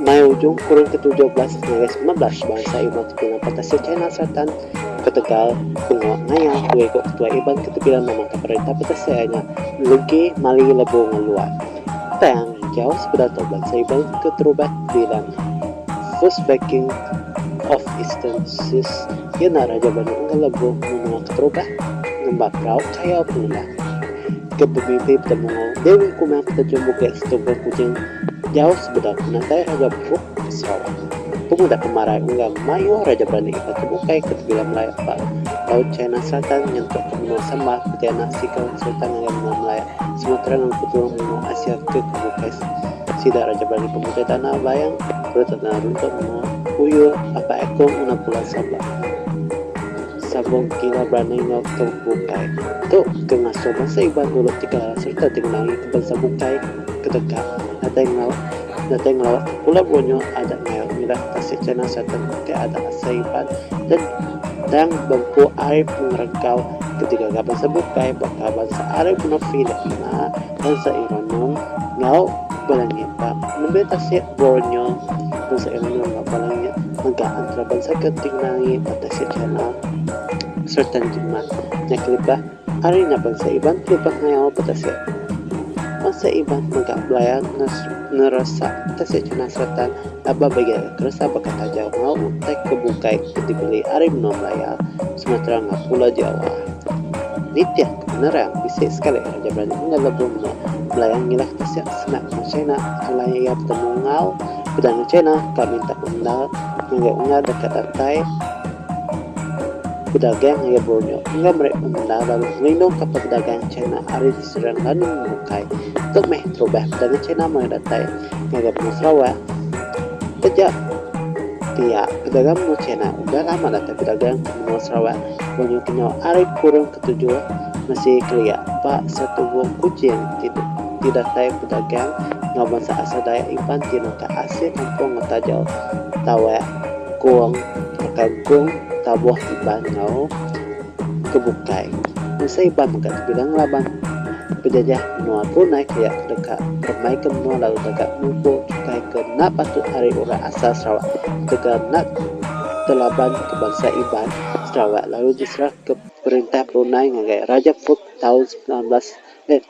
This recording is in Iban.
Mai ujung kurun ketujuh belas ngagai semilan belas, bansa Iban ti bina Patasir China Selatan beketegal pengawa ngaya dua iku ketuai Iban ke tebilang memandangka perintah Patasir iya nya Legi Mali Lebu Ngeluat. Tang enggau sekeda tu bansa Iban ke terubat di Lanai, First Viking of Eastern Seas, iya nya raja banua enggau lebuh menua ke terubat ngemba perau kayau pengelak, ke bebimpi Petemu Dewi Kumang ke terjun Bukit Setungkung Kujing jauh sebedau penatai Raja Brooke. Sarawak. Pemuda pemarai enggau mayuh raja berani ke tebukai ke tebilang Melayu ba Laut China Selatan nyentuk ke menua Sambal peti anak siko sultan ngagai menua Melayu Sumatera enggau peturung menua Asia ke ke bukai sida raja berani pemutai tanah Bayang perut tanah runtuk menua Uyur apai aku ngena pulau Sabah Sabong kira berani enggau ke bukai tu ke ngasuh bansa Iban dulu ti kelaras sereta ti ngenangi ke bansa bukai ke deka datai enggau Datai ngelawa ke Pulau Borneo adat mayuh ngidat tasik China sereta ngetik adat asai empat dendang bempu ari pengeregau ke digaga bansa bukai baka bansa Arab enggau Filipina, bansa Ironum enggau Balangit ba nembiak tasik Borneo, bansa Ironum enggau Balangit mega entara bansa ke ti ngenangi ba tasik China sereta njimat nya kelebah. Ari nya bansa Iban pelubah ngayau betasik. Bansa Iban mega belaya ngeresa tasik China Selatan laban ba iya iya keresa baka taja enggau utai ke bukai ke dibeli ari menua Malaya, Sumatera enggau Pulau Jawa. Nitih ke penerang, bisi sekali raja berani enggau lebuh menua Malaya ngilah tasik sema enggau China alai iya betemu enggau Perdana China ka minta pemendar ngagai ungar deka datai. Bedagang iya Borneo enggau meri pemendar lalu ngelindungka pedagang China ari diserang lalu bukai tu meh terubah pedagang China maya datai ngagai benung Sarawak. Taja pia, pedagang benung China udah lama datai bedagang ke menua Sarawak, Borneo ke nyau ari kurung ketujuh mesti kelia ba setubuh Kuching ti ti datai bedagang enggau bansa asal Dayak Iban ti nengkah asil kampung enggau taja tawak. Kong atau Kong taboh tiban enggau ke bukai masa iban mega tebilang ngelaban pejajah menua Brunei ke iya ke deka remai ke menua lalu deka ngumpul chukai ke enda patut ari orang asal Sarawak ketegal enda telaban ke bansa Iban Sarawak lalu diserah ke perintah Brunei ngagai Raja Fulk taun semilan belas eh